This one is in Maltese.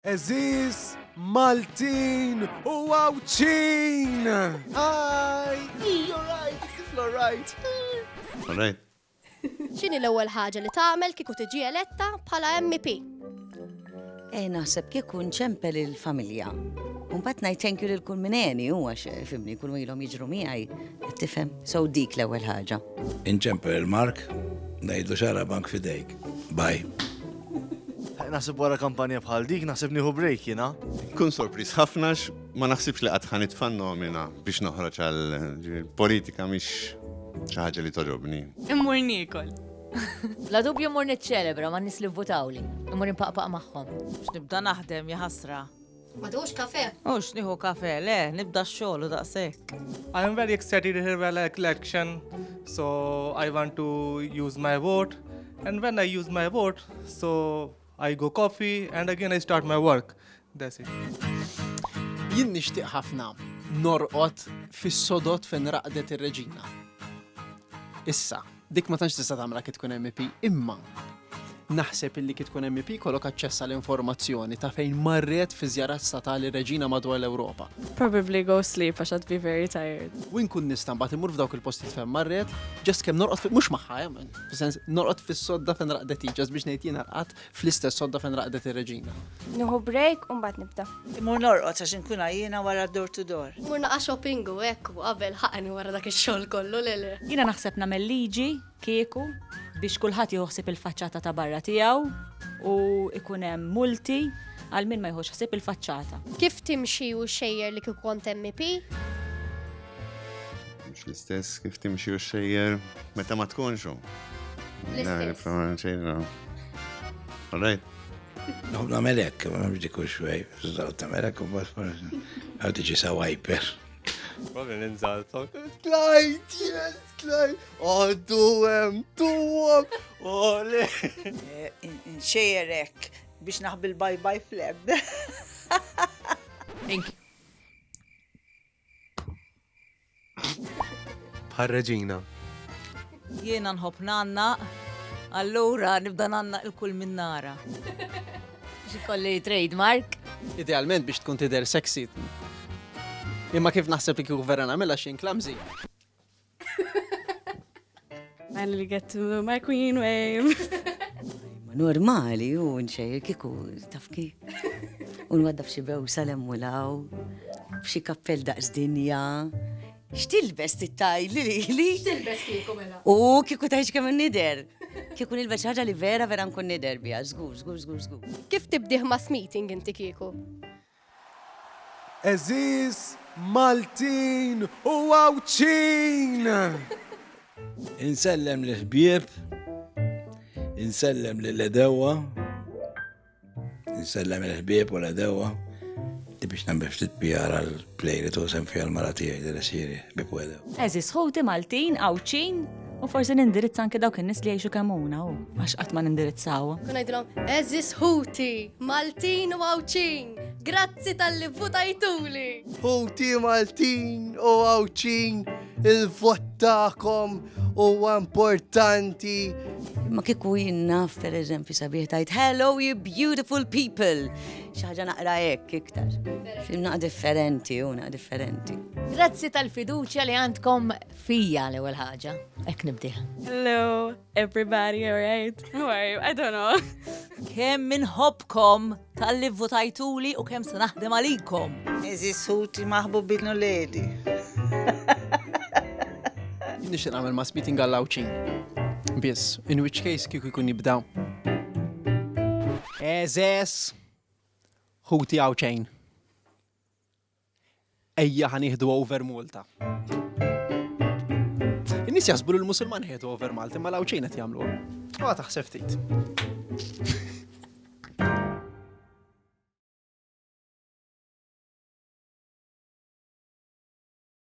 Għeżież Maltin u Għawdxin! Hi! You're right, you're right. All right. X'inhi l-ewwel ħaġa li tagħmel kieku tiġi eletta bħala MP? Eh, naħseb kieku nċempel il-familja. Unbat ngħid thank you lil kull min għeni huwa fimni kull ilhom jiġru miegħi. Tifhem? So dik l-ewwel ħaġa. Inċempel il-Mark, ngħidlu xara bank fidejk. Bye. Naħseb wara kampanja bħal dik, naħseb nieħu break jiena. Kun sorpriż ħafna ma naħsibx li qatt ħan itfan nomina biex noħroġ għal politika mhix xi ħaġa li toġobni. Immur niekol. La dubju mur niċċelebra ma nis li vvutawli. Immur impaqpaq magħhom. X'nibda naħdem jaħasra. Ma tieħux kafe? Mhux nieħu kafe, le, nibda x-xogħol u daqshekk. I am very excited here by the election, so I want to use my vote. And when I use my vote, so I go coffee and again I start my work. That's it. Jien nixtieq ħafna norqod fis-sodot fejn raqdet ir-reġina. Issa. Dik ma tantx tista' tagħmilha kif tkun MEP, imma naħseb illi kif tkun MEP kollok aċċessa l informazzjoni ta' fejn marret fi żjarat statali reġina madwar l-Ewropa. Probably go sleep għax I'd be very tired. U nkun nista' mbagħad imur f'dawk il-postijiet fejn marret, ġast kemm norqod mhux magħha, eh, fis-sens norqod fis-sodda fejn raqdet hi, ġast biex ngħid jiena rqadt Fl-istess sodda fejn raqdet ir-reġina. Nieħu break u mbagħad nibda. Imur norqod għax inkun għajjina wara d-door to door. Mur naqa' shopping u hekk u qabel ħaqani wara dak ix-xogħol kollu, le le. Jiena naħseb nagħmel liġi, kieku, biex kulħadd jieħu ħsieb il-faċċata ta' barra tiegħu u jkun hemm multi għal min ma jieħux ħsieb il-faċċata. Kif timxi u xxejjer li kieku kont MP? Mhux l-istess kif timxi u xejjer meta ma tkunx. L-istess. All right. No, na melek, ma bġi kull xwej, zdaw ta' melek, u bas għaw tiġi sa' wiper. Probably ninżal sawt. Tlajt, yes, tlajt. Għaddu għem, tu għem, għole. Nxejerek biex naħbil bye bye fleb. Bħal reġina. Jiena nħobb nanna, allura nibda nanna il-kull minn nara. Xikolli trademark. Idealment biex tkun tider sexy. Imma kif naħseb li kieku vera nagħmilha xejn klamżi. Għan li get to my queen wave. Ma normali, u nxejr kiku, tafki. Un għadda fxie bew salem u law, fxie kappell daqs dinja. Xtilbes tittaj li li li. Xtilbes kiku mela. U kiku tajx kemm nider. Kiku nilbes ħaġa li vera vera nkun nider bija. Zgur, zgur, zgur, zgur. Kif tibdiħ mass meeting inti kiku? Għeżież Maltin u Għawdxin! Insellem lill-ħbieb, insellem lill-għedewwa, insellem il-ħbieb u l-għedewwa, biex nagħmel ftit PR għal play li tużem fiha l-mara tiegħi li siri bi pwedew. Eżis ħuti Maltin, Għawdxin, U forsi nindirizza anke dawk in-nies li jgħixu kemm huna u għax qatt ma nindirizzaw. Kun ngħidilhom, eżis ħuti, Maltin u Għawċin, grazzi tal-li votajtuli. Ħuti Maltin u Għawċin, il-vot tagħkom huwa importanti. Ma kieku jinnaf, per eżempju, sabiħ tajt, hello you beautiful people. ħaġa naqra hekk iktar. Ximna differenti, una differenti. Grazzi tal-fiduċja li għandkom Fija l-ewwel ħaġa, hekk nibdih. Hello, everybody, alright? Who are you? I don't know. Kemm minħobkom tal-li votajtuli u kemm se naħdem għalikom. Eżis ħuti maħbubin u ledi. Nixtieq nagħmel mass meeting għall-Awċin. Biss, in which case kieku jkun jibda. Eżes, ħuti Awċin. Ejja ħa nieħdu over Malta. In-nies jaħsbu li l-Musulman ħedu over Malta, ma l-għawċin qed jagħmlu. Ma taħseb ftit.